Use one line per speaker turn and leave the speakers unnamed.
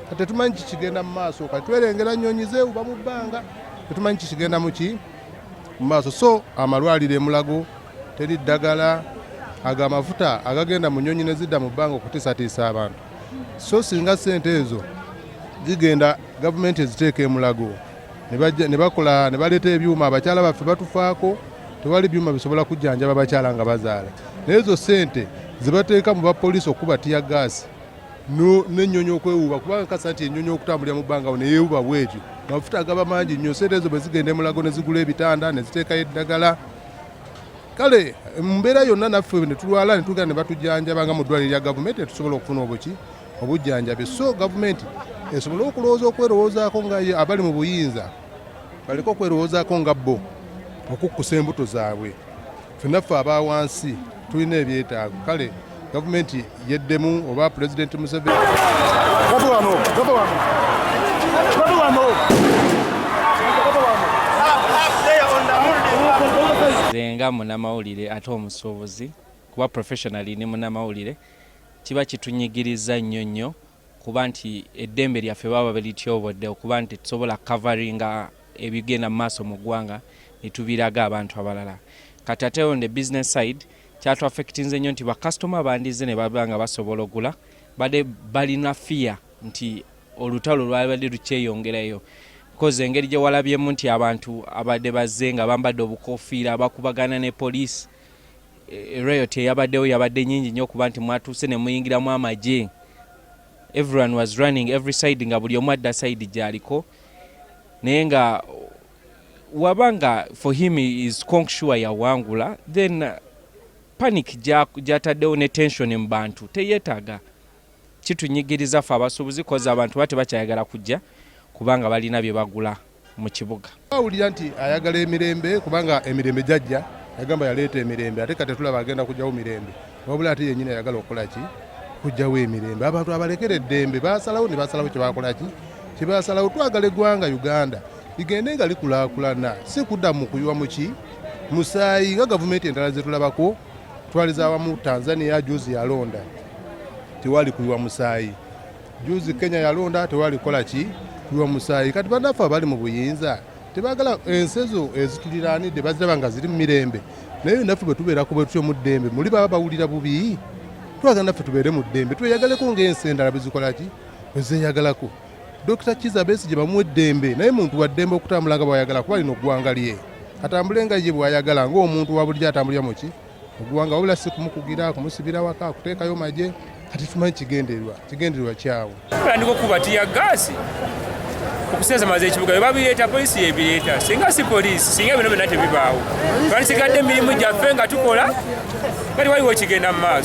kati tetumanyi kikigenda mu maaso kati twerengera nnyonyi zewuba mu bbanga tetumanyi kikigenda muki mu maaso so amalwaliro emulago teri ddagala ago amafuta agagenda mu nnyonyi nezidda mu bbanga okutiisatiisa abantu so singa sente ezo zigenda gavumenti eziteeka emulago ne bakola ne baleeta ebyuma abakyala baffe batufaako tewali byuma bisobola kujjanjaba bakyala nga bazaala naye ezo sente zibateeka mu bapoliisi okukuba tiya gaasi n'ennyonyi okwewuuba kubanga kasa nti ennyonyi okutambulira mu bbanga ne yeewuba bwetyo amafuta agaba mangi nnyo sente ezo bwe zigenda emulago ne zigula ebitanda ne ziteekayo eddagala kale mumbeera yonna naffe ne tulwala ne tugenda ne batujjanjaba nga mu ddwaliro lya gavumenti ne tusobola okufuna obuki obujjanjabi so gavumenti esobole okulowooza okwerowoozaako nga abali mu buyinza baleke okwerowoozaako nga bo okukkusa embuto zaabwe Ffenna ffe aba wansi tulina ebyetaago kale gavumenti yeddemu oba pulezidenti Museveni
nga munamawulire ate omusuubuzi kuba professionally ni munamawulire kiba kitunyigiriza nnyo nnyo kuba nti eddembe lyaffe baba balityobodde okuba nti tetusobola kukavaringa ebigenda mu maaso mu ggwanga ne tubiraga abantu abalala kati ate on the business side kyatuaffectinze nnyo nti bakasitoma bandizze ne baba nga basobola ogula bade balina fiya nti olutalo lwabadde lukyeyongerayo kozi engeri gye walabyemu nti abantu abadde bazze nga bambadde obukofiira bakubagana ne poliisi E, riot eyabaddewo yabadde nyingi nnyo kuba nti mwatuuse ne muyingiramu amagye everyone was running every side nga buli omu adda side gyaliko naye nga waba nga for him is conk sure yawangula then uh, panic gyataddewo ne tension mu bantu teyetaaga Kitunyigiriza ffe abasuubuzi kozi abantu ba tebakyayagala kujja kubanga balina bye bagula mu kibuga. Awulira nti
ayagala emirembe kubanga emirembe gyajja yagamba yaleeta emirembe ate kati tulaba agenda kujjawo mirembe wabula ate yenyini ayagala okukola ki kujjawo emirembe abantu abalekera eddembe basalawo ne basalawo kyebakola ki kyebasalawo twagala eggwanga uganda ligende nga likulakulana si kudda mu kuywa muki musaayi nga gavumenti endala zetulabako Twaliza awamu Tanzania juzi yalonda tewali kuyiwa musaayi, juzi Kenya yalonda tewali kola ki kuyiwa musaayi. Kati banaffe abali mu buyinza tebagala ensi ezo ezituliraanidde baziraba nga ziri mu mirembe, naye naffe bwe tubeera ku bwetutyo mu ddembe muli baba bawulira bubi. Twagala naffe tubeere mu ddembe, tweyagaleko ng'ensi endala bwe zikola ki bwe zeeyagalako. Dokita Kiza Besigye bamuwa eddembe naye muntu wa ddembe okutambula nga bwayagala kuba lino ggwanga lye atambule nga ye bwayagala ng'omuntu wa bulijjo atambulira muki oggwanga wabula si kumukugira kumusibira waka okuteekayo magye kati tumanyi kigendererwa kigendererwa kyawo tandika okuba tiya
gaasi okusesamaza ekibuga bebabireeta polisi yebireeta singa si polisi singa bino byonna tebibaawo twandisigadde emirimu gyaffe nga tukola nga tewaliwo kigenda mu maaso